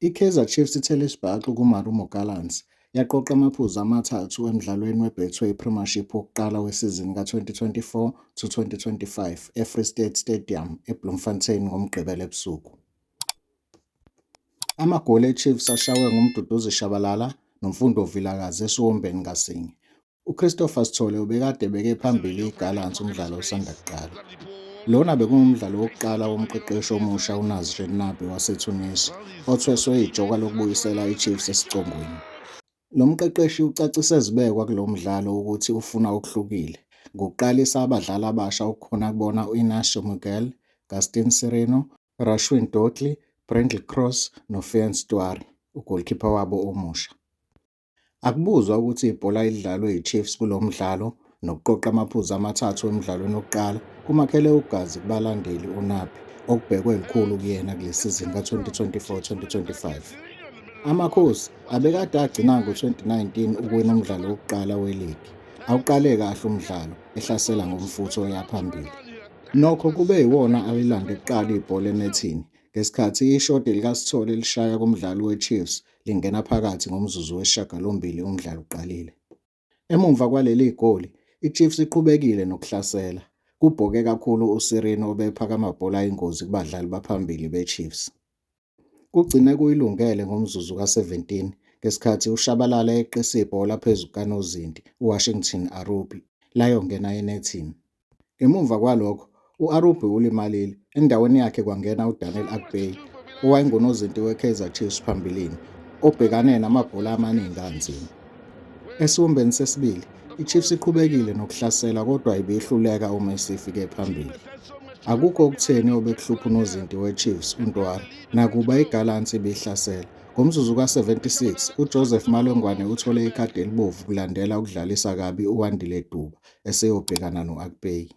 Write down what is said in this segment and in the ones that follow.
I-Kaizer Chiefs ithele isibhaxu kuMarumo Gallants yaqoqa amaphuzu amathathu emdlalweni weBetway Premiership wokuqala wesizini ka-2024 to 2025 eFree State Stadium eBloemfontein ngoMgqibelo ebusuku. Amagoli eChiefs ashaywe nguMduduzi Shabalala noMfundo Vilakazi esiwombeni ngasinye. UChristopher Sithole ubekade ebeke phambili iGallants umdlalo osanda kuqala. Lona bekungumdlalo wokuqala womqeqeshi omusha uNasri Nabi waseTunisia, othweswe ijoka lokubuyisela iChiefs esicongweni. Lo mqeqeshi ucacise ezibekwa kulo mdlalo ukuthi ufuna okuhlukile ngokuqalisa abadlali abasha okukhona kubona u-Inacio Miguel, Gaston Sirino Rashwin Dortley, Brendel Cross noFean Stuari, ugolikhipha wabo omusha. Akubuzwa ukuthi ibhola elidlalwe yiChiefs kulo mdlalo nokuqoqa amaphuzu amathathu emdlalweni wokuqala kumakhele ugazi kubalandeli uNabi okubhekwe lukhulu kuyena kule sizini ka-2024-2025. Amakhosi abekade agcina ngo-2019 ukuwina umdlalo wokuqala weligi awuqale kahle umdlalo ehlasela ngomfutho oya phambili. Nokho kube yiwona alilande kuqala ibhola enethini ngesikhathi ishodi likaSithole lishaya kumdlali weChiefs lingena phakathi ngomzuzu wesishagalombili umdlalo uqalile. Emumva kwaleli goli, iChiefs iqhubekile nokuhlasela, kubhoke kakhulu uSirino obepha amabhola ayingozi kubadlali baphambili beChiefs. Kugcine kuyilungele ngomzuzu ka-17 ngesikhathi uShabalala eqisa ibhola phezu kukanozinti uWashington Arubi layongena enethini. Ngemuva kwalokho u-Arubi ulimalile, endaweni yakhe kwangena uDaniel Akpeyi owayengunozinti weKaizer Chiefs phambilini obhekane namabhola amaningi anzima. Esiwombeni sesibili, iChiefs iqhubekile nokuhlasela kodwa ibihluleka uma isifike phambili. Akukho okutheni obekuhlupha unozinti weChiefs uNtwara nakuba iGallants ibihlasela. Ngomzuzu ka-76 uJoseph Malongwane uthole ikhadi elibovu kulandela ukudlalisa kabi uWandile Duba eseyobhekana no-Akpeyi.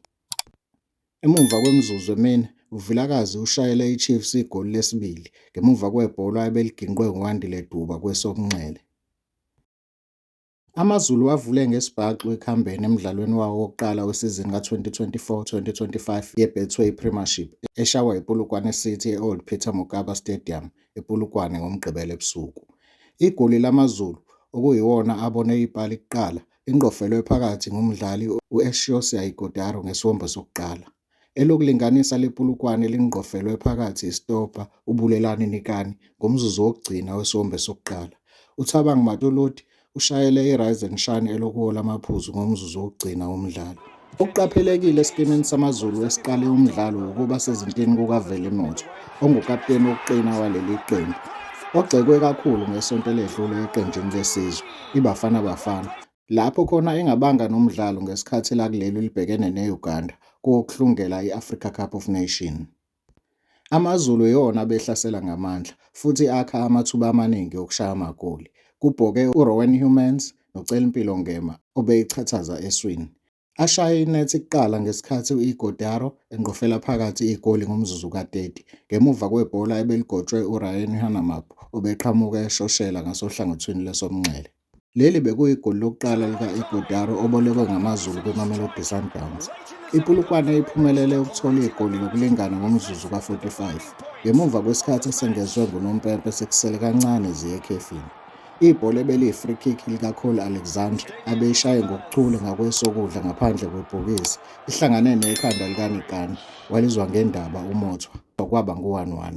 Emuva kwemizuzu emine, uVilakazi ushayele iChiefs igoli lesibili ngemuva kwebhola ebeliginqwe nguWandile Duba kwesokunxele. AmaZulu avule ngesibhaxu ekuhambeni emdlalweni wawo wokuqala wesizini ka-2024-2025 yeBetway Premiership eshaywa yiPolokwane City e-Old Peter Mokaba Stadium ePolokwane ngoMgqibelo ebusuku. Igoli laMaZulu, okuyiwona abone ipali kuqala, Ingqofelwe phakathi ngumdlali u-Exiosia Ighodaro ngesiwombe sokuqala. Elokulinganisa lepulukwane lingqofelwe phakathi isitobha uBulelani Nikani ngomzuzu wokugcina wesiwombe sokuqala. UThabang Matoloti ushayele iRise and Shine elokuwola amaphuzu ngomzuzu wokugcina womdlalo. Okuqaphelekile esikimini samaZulu esiqale umdlalo ukuba sezintini kukaVelimotho, ongukapteni wokuqina waleli qembu, ogxekwe kakhulu ngesonto eledlule eqenjini lesizwe, iBafana Bafana, lapho khona engabanga nomdlalo ngesikhathi lakuleli libhekene ne-Uganda kowokuhlungela i-Africa Cup of Nations. AmaZulu iwona abehlasela ngamandla futhi akha amathuba amaningi okushaya amagoli. Kubhoke uRowen Humans noCelimpilo Ngema obeyiqhathaza eswini. Ashaye inethi kuqala ngesikhathi u-Ighodaro engqofela phakathi igoli ngomzuzu ka-30 ngemuva kwebhola ebeligotshwe uRyan Hanamab obeqhamuka eshoshela ngasohlangothini lwesomnxele. Leli bekuyigoli lokuqala lika-Ighodaro obolekwe ngamaZulu kwiMamelodi Sundowns. IPolokwane iphumelele ukuthola igoli lokulingana ngomzuzu ka-45 ngemuva kwesikhathi esengezwe ngunompempe sekusele kancane ziye ekhefini. Ibhola ebeliyi-free kick likaCole Alexander abeyishaye ngokuchule ngakwesokudla ngaphandle kwebhokisi ihlangane nekhanda likaNikani walizwa ngendaba uMothwa kwaba ngu-1-1.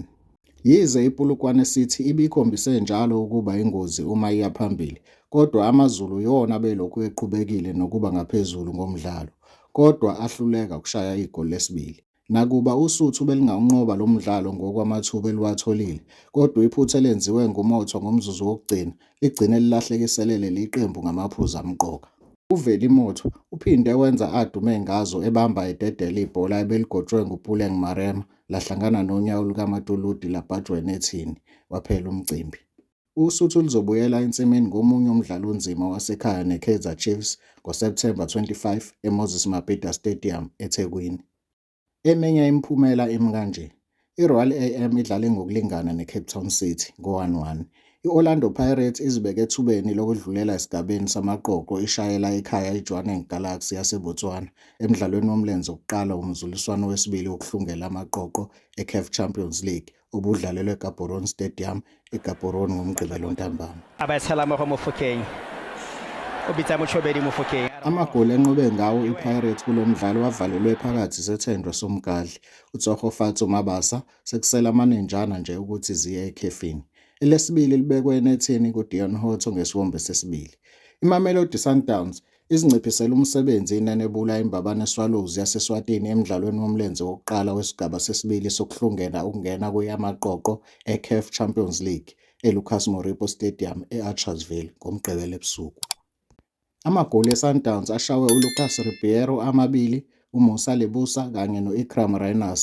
Yize iPulukwane City ibikhombise njalo ukuba yingozi uma iya phambili, kodwa AmaZulu yiwona abelokhu eqhubekile nokuba ngaphezulu ngomdlalo, kodwa ahluleka ukushaya igoli lesibili. Nakuba Usuthu belingawunqoba lo mdlalo ngokwamathuba eliwatholile, kodwa iphutha elenziwe nguMotho ngomzuzu wokugcina ligcine lilahlekisele leli qembu ngamaphuzu amqoka. UVeli Motho uphinde wenza adume ngazo ebamba ededele ibhola ebeligotshwe nguPuleng Marema lahlangana nonyawo lukaMatuludi labhajwa enethini, waphela umcimbi. Usuthu luzobuyela ensimini ngomunye umdlalo onzima wasekhaya neKaizer Chiefs ngoSepthemba 25 eMoses Mabhida Stadium, eThekwini. Eminye imiphumela imi kanje. IRoyal am idlale ngokulingana neCape Town City ngo-1-1, I-Orlando Pirates izibeke ethubeni lokudlulela esigabeni samaqoqo ishayela ekhaya iJwaneng Galaxy yaseBotswana emdlalweni womlenze wokuqala womzuliswano wesibili wokuhlungela amaqoqo eCaf Champions League obudlalelwe eGaborone Stadium eGaborone ngoMgqibelo ntambama. Abathalamogo Mofokeng ubitsa Motshobedi Mofokeng Amagoli enqobe ngawo iPirates kulo mdlalo avalelwe phakathi sethendwe somgadli, uTsogofatso Mabasa, Sekusele amanenjana nje ukuthi ziye ekhefini. Elesibili libekwe enethini kuDeon Hotto ngesiwombe sesibili. IMamelodi Sundowns izinciphisele umsebenzi inenebula iMbabane Swallows yaseSwatini emdlalweni womlenze wokuqala wesigaba sesibili sokuhlungela ukungena kweyamaqoqo eCaf Champions League eLucas Moripo Stadium e-Archersville ngoMgqibelo ebusuku. Amagoli eSundowns ashawe uLucas Ribeiro amabili, uMusa Lebusa kanye no-Iqraam Rayners